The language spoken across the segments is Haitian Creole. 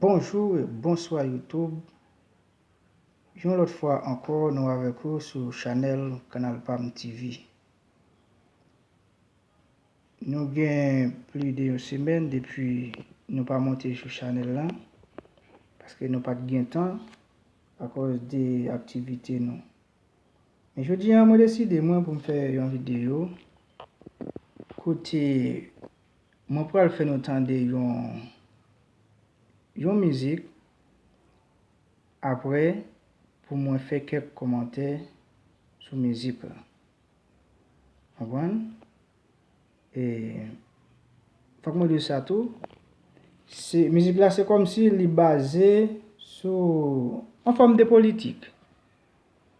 Bonjour et bonsoir YouTube yon lòt fwa ankò nou avèk ou sou chanèl kanal pam TV nou gen pli de yon semèn depi nou pa monte sou chanèl lan paske nou pat gen tan akòz de aktivite nou men jodi an mwen deside mwen pou m fè yon video kote Mwen pral fè nou tande yon yon mizik aprè pou mwen fè kèk kòmantè sou mizik la. Konprann? E fòk mwen di w sa tou, se mizik la se kòmsi li baze sou yon fòm de politik.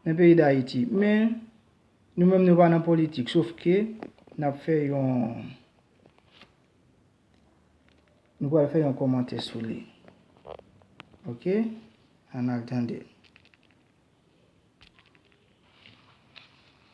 Nan peyi dayiti. Men Nou menm Nou pa nan politik sof ke nap fè yon Nou pral fè yon komantè sou li ok Ann al tande.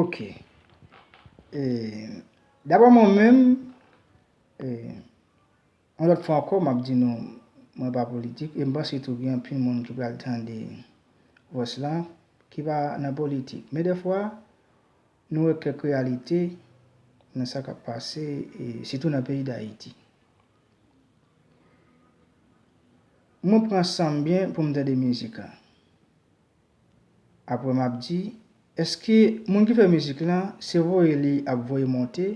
Ok Dabò mwen menm Yon lòt fwa ankò map di nou Mwen pa politik e m panse tou gen anpil moun ki pral tande Vòs la ki pa nan politik men dèfwa Nou wè kèk reyalite nan sa k ap pase sitou nan peyi Dayiti. Mwen pran san m byen pou m tande mizik lan. Apre m ap di, èske moun ki fè mizik lan se voye li ap voye monte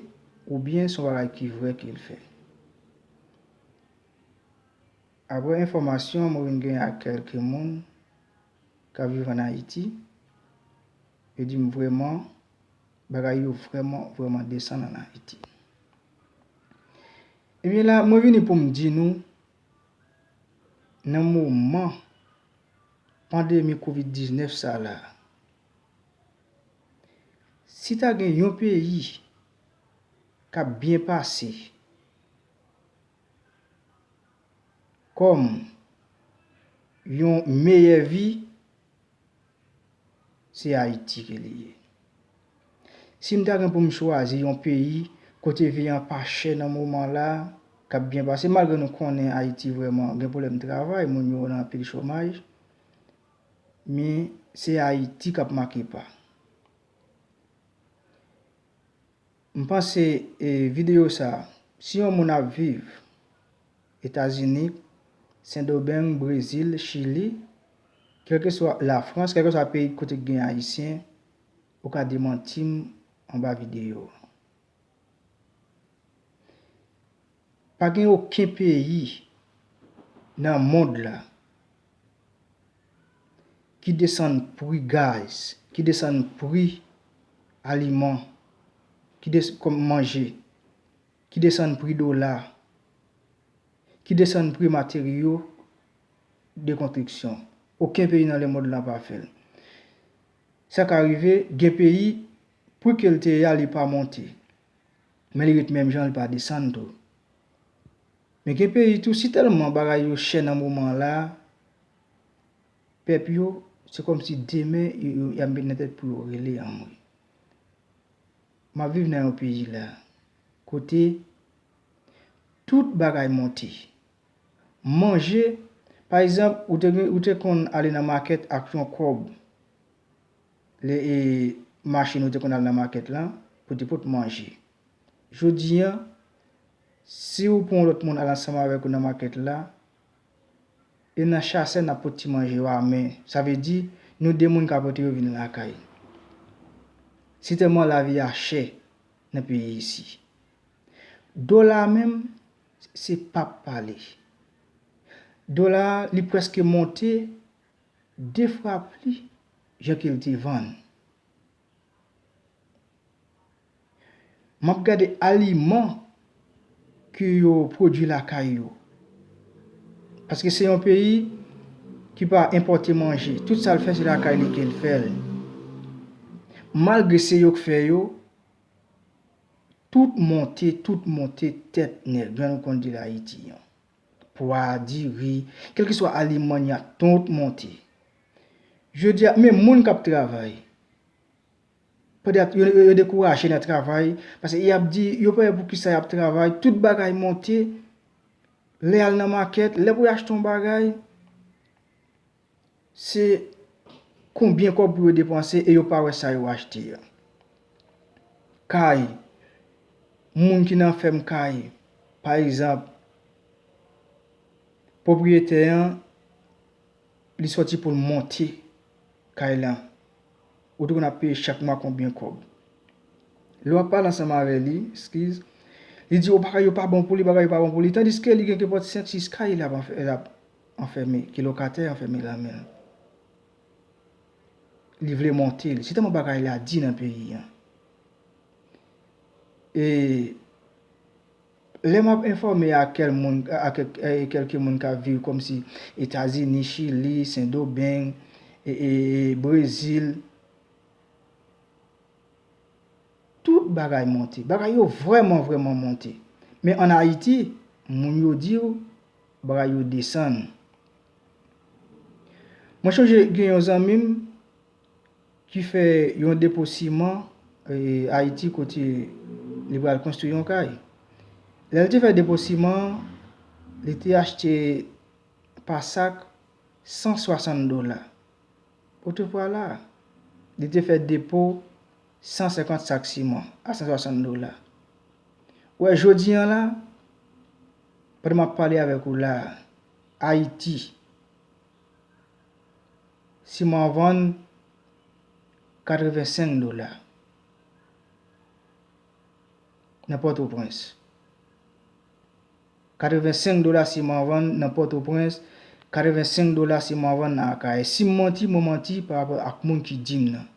oubyen se yon bagay ki vrè ke l fè? Apre enfòmasyon mwen vin gen ak kèlke moun k ap viv an Ayiti, Yo dim vrèman bagay yo vrèman vrèman desann an Ayiti. Ebyen la mwen vini poum di nou nan moman pandemi covid 19 sa la si ta gen yon peyi kap byen pase kòm yon meyè vi Se Ayiti ke li ye. Si m ta gen pou m chwazi yon peyi kote vi an pa chè nan moman la, k ap byen pase, malgre nou konnen Ayiti vrèman gen pwoblèm travay, moun yo nan anpil chomaj, men se Ayiti k ap make pa. M panse video sa si yon moun ap viv etazini sendobeng brezil chili kelkeswa lafrans kelkeswa peyi kote ki gen ayisyen ou ka demantim anba video. Pa gen oken peyi nan mond la ki desann pri gaz, ki desann pri aliman, ki desann pri manje, ki desann pri dola, ki desann pri materyo de kontriksyon. Oken peyi nan lemond la pa fè l. Sa ka rive, gen peyi, pri ke l te ye a li pa monte. Men li ret menm jan li pa desann tou. Men gen peyi tou si tèlman bagay yo chè nan moman an la, pèp yo se kòm si demen y ap met nan tèt pou yo rele anmwe. M ap viv nan yon peyi la kote tout bagay monte. Manje, pa egzanp ou te konn ale nan makèt ak yon kòb. Le e mache nou te konn al nan market lan pou te pot manje. Jodi an, si ou pou yon lot moun al ansanm avek ou nan market la, e nan chase nap pot ti manje yo a men. Sa vle di, nou 2 moun ka pote yo vin lakay. Se telman la vi a chè nan peyi isi. Dola a menm, se pap pale. Dola a, li preske monte. 2 fwa pli jan ke l te vann. M ap gade aliman ke yo pwodui lakay yo. Paske se yon peyi ki pa enpòte manje. Tout sa l fè se lakay li ke l fè l. Malgre se yo k fè yo, tout monte, tout monte tèt nèg lan nou konn di l Ayiti an. Pwa, diri, kèlkeswa aliman n ya tout monte. Jodi a, menm moun k ap travay, yo dekouraje nan travay, paske y ap di yo pa wè pou kisa y ap travay, tout bagay monte, lè y al nan makèt, lè pou y achte yon bagay. Se konbyen kòb pou yo depanse e yo pa wè sa yo achte a. Kay, moun ki nan fèm kay, pa egzanp, pwopriyetè an, li sòti pou l monte kay lan, ou te konn ap peye chak mwa konbyen kòb. Lè w ap pale ansanm avè li, eskiz, li di yo bagay yo pa bon pou li, bagay yo pa bon pou li, tandiske li gen kenpòt senk sis kay l ap. anfème, ke lokatè anfème lan men l, li vle monte l, se tèlman bagay la di nan peyi an. E, lè m ap enfòme ak kèl moun, ak kèlke moun k ap viv kòm si Etazini, Chili, Sendomeng, e, Brezil, tout bagay monte, bagay yo vrèman vrèman monte. Men an Ayiti, moun yo di w. Bra yo desann. Mwen chonje gen yon zanmi m ki fè yon depo siman Ayiti kote li pral konstwi yon kay. Lè l te fè depo siman an, li te achte pa sak 160 dola. Otopwala, li te fè depo 150 sak siman a 160 dola. Ou wè jodi an la, Pandan m ap pale avèk ou la a, Ayiti, siman an vann 85 dola nan Pòtoprens. 85 dola siman an vann nan Pòtoprens, 85 dola siman an vann nan Akayè. Si m manti, mwen manti parapò ak moun ki di m nan.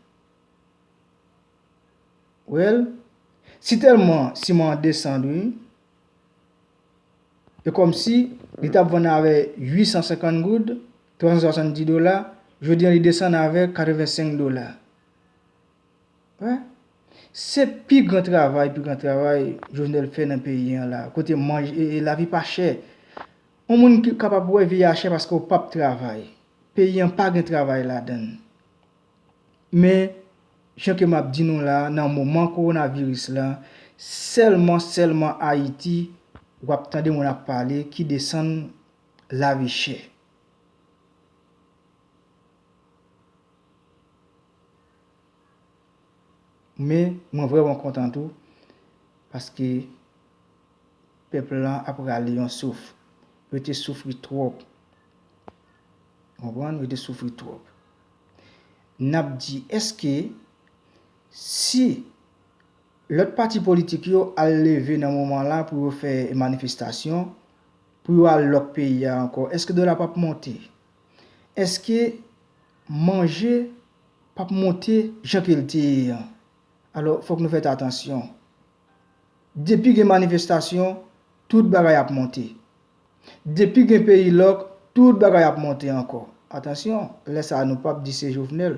Well, si tèlman siman an desann wi, E kòmsi, li t ap vann avè 850 goud, 370 dola, jodi an li desann avè 85 dola. Wè, se pi gran travay, pi gran travay Jovenel fè nan peyi an la, kote manj, e lavi pa chè. On moun ki kapab wè vi a chè paske ou p ap travay. Peyi an pa gen travay ladann. Men, jan ke map di nou la, nan moman coronavirus la, sèlman, sèlman Ayiti wap tande moun ap pale ki desann lavi chè. Men, mwen vrèman kontan tou, paske pèp lan ap rale yon souf. Yo te soufri twòp. Konprann? Yo te soufri twòp. n ap di èske si lòt pati politik yo al leve nan moman la pou yo fè manifestasyon, pou yo al lòk peyi a ankò, èske dola p ap monte? Èske manje p ap monte jan ke l te ye an? Alò, fòk nou fèt atansyon. Depi gen manifestasyon, tout bagay ap monte. Depi gen peyi lòk, tout bagay ap monte ankò. Atansyon, lè sa a nou pap di se Jovenel.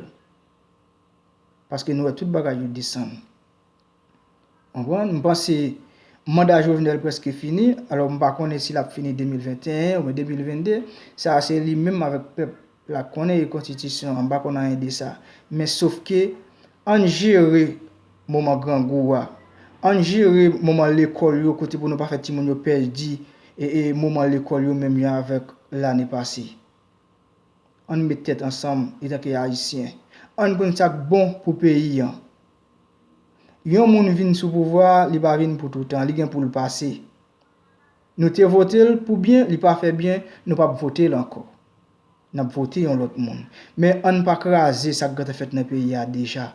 Paske nou wè tout bagay yo desann. Konprann? M panse manda Jovenel prèske fini, alò m pa konnen si l ap fini 2021 oubyen 2022. Sa a se li menm avèk pèp La konnen e kontitisyon an bakon anyen de sa men sofke ann jere moman grangou a ann jere moman lekòl yo kote pou nou pa fè timoun yo pèdi e e moman lekòl yo menm jan avèk lane pase ann met tèt ansanm etanke ayisyen ann konn sak bon pou peyi an yon moun vin sou pouvwa li pa vin pou toutan li gen poul pase Nou te votel pou byen li pa fè byen nou pap votel ankò nap vote yon lòt moun men ann pa kraze sak gentan fèt nan peyi a deja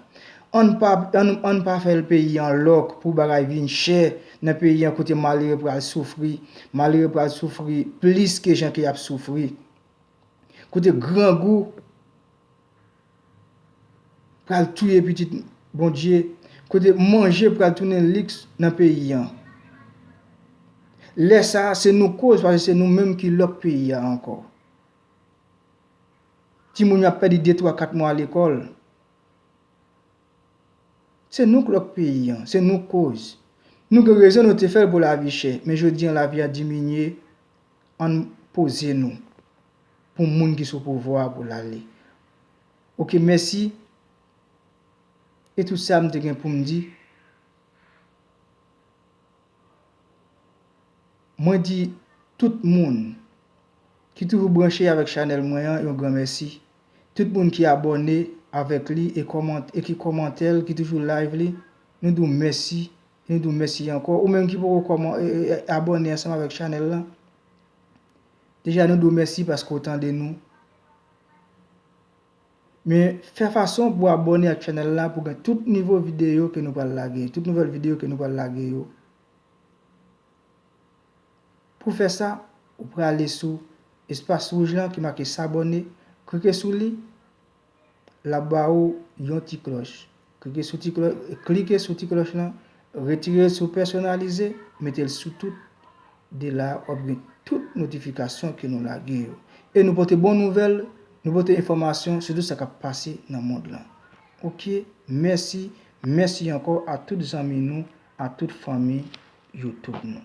ann pa ann pa fèl peyi an lòk pou bagay vin chè nan peyi an kote malere pral soufri malere pral soufri plis ke jan ke yap soufri kote grangou. pral touye pitit Bondye, kote manje pral tounen liks nan peyi an. Lè sa a, se nou koz paske se nou menm ki lòk peyi a ankò. Timoun yo ap pèdi de twa kat mwa lekòl. Se nou k lòk peyi an, se nou koz. Nou gen rezon nou te fè l pou lavi chè, men jodi an lavi a diminye, ann poze nou. pou moun ki sou pouvwa pou lale ok mèsi e tout sa m te gen poum di mwen di tout moun ki toujou branche avèk chanèl mwen an yon gran mèsi tout moun ki abòne avèk li e ki kòmante l ki toujou live li nou di w mèsi e nou di w mèsi ankò ou menm ki poko abòne ansanm avèk chanèl lan. Deja nou di w mèsi paske w tande nou. Men fè fason pou w abòne ak chanèl la pou w gen tout nivo videyo ke nou pral lage, tout nouvèl videyo ke nou pral lage yo. Pou w fè sa, ou prale sou espas wouj lan ki make s'abonner, klike sou li. L ap ba ou yon ti klòch. Klike sou ti klòch, klike sou ti klòch lan, retire l sou pèsonalize, mete l sou tout. De la a, w ap gen tout notifikasyon ke nou lage yo. E nou pote bon nouvèl, nou pote enfòmasyon sou tout sa k ap pase nan mond lan. Ok, mèsi, mèsi ankò a tout zanmi nou, a tout fanmi Youtube nou.